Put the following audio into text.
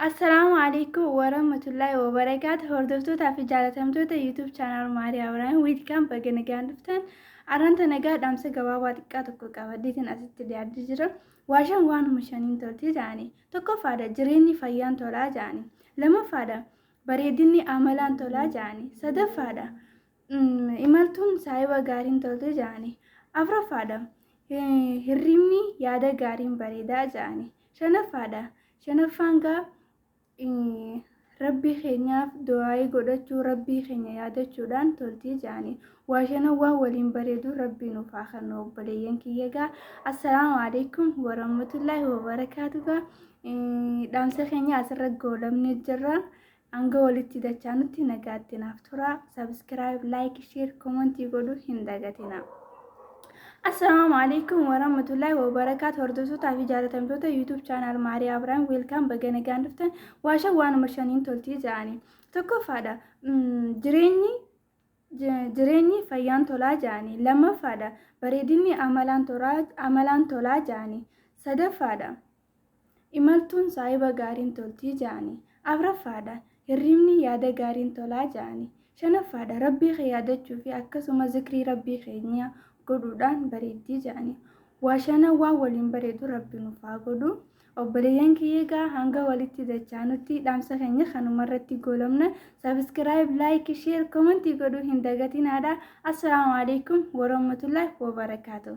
Assalaamu alaikum warahmatullahi wabarakaatu hordoftoota fi jaalatamtoota YouTube channel Maariyaa Waraana Wiilkaan baga nagaan dhuftan arranta nagaa dhaamsa gabaabaa xiqqaa tokko qabaddeetiin asitti dhiyaadde jira. Waashaan waanuma shaniin tolti jedhani. Tokkoffaadha jireenyi fayyaan tolaa jedhani. Lamaffaadha bareedinni amalaan tolaa jedhani. Sadaffaadha Imaltuun saahiba gaariin tolti jedhani. Afraffaadha. Hirribni yaada gaariin bareedaa jedhani. Shanaffaadha. Shanaffaan gaa rabbii keenyaaf du'aa'ii godhachuu rabbii keenya yaadachuudhaan toltii jedhani. Waa shanan waan waliin bareedu rabbii nuuf haa kennu obboleeyyan kiyya gaa. Assalaamu alaikum warahmatullaahi wabarakaatu gaa. Dhaamsa keenya asirra goolabnee jirra. Hanga walitti dachaanutti nagaatti naaf turaa. Subscribe, like, share, comment godhuu hin dagatinaa. Assalaamu alaikum warahmatullahi wabarakaatu hordoftoota fi jaalatamtoota YouTube channel Maariyaa Abiraam weelkaan baga nagaan dhuftan waashan waanuma shaniin toltii ja'anii tokkoffaadha jireenyi jireenyi fayyaan tolaa ja'anii lammaffaadha bareedinni amalaan tolaa ja'anii sadaffaadha Imaltuun saahiba gaariin tolti ja'ani. Afraffaadha, Hirribni yaada gaariin tolaa ja'ani. Shanaffaadha, Rabbii kee yaadachuu fi akkasuma zikrii Rabbii keenya godhuudhaan bareeddi ja'ani. Waa shanan waan waliin bareedu Rabbi nuuf haa godhu. Obboleeyyan kiyya egaa hanga walitti dachaanutti dhaamsa keenya kanumarratti goolabna. Subscribe, like, share, comment godhuu hin dagatinaadha. Assalaamu alaikum warahmatullahi wabarakatuh.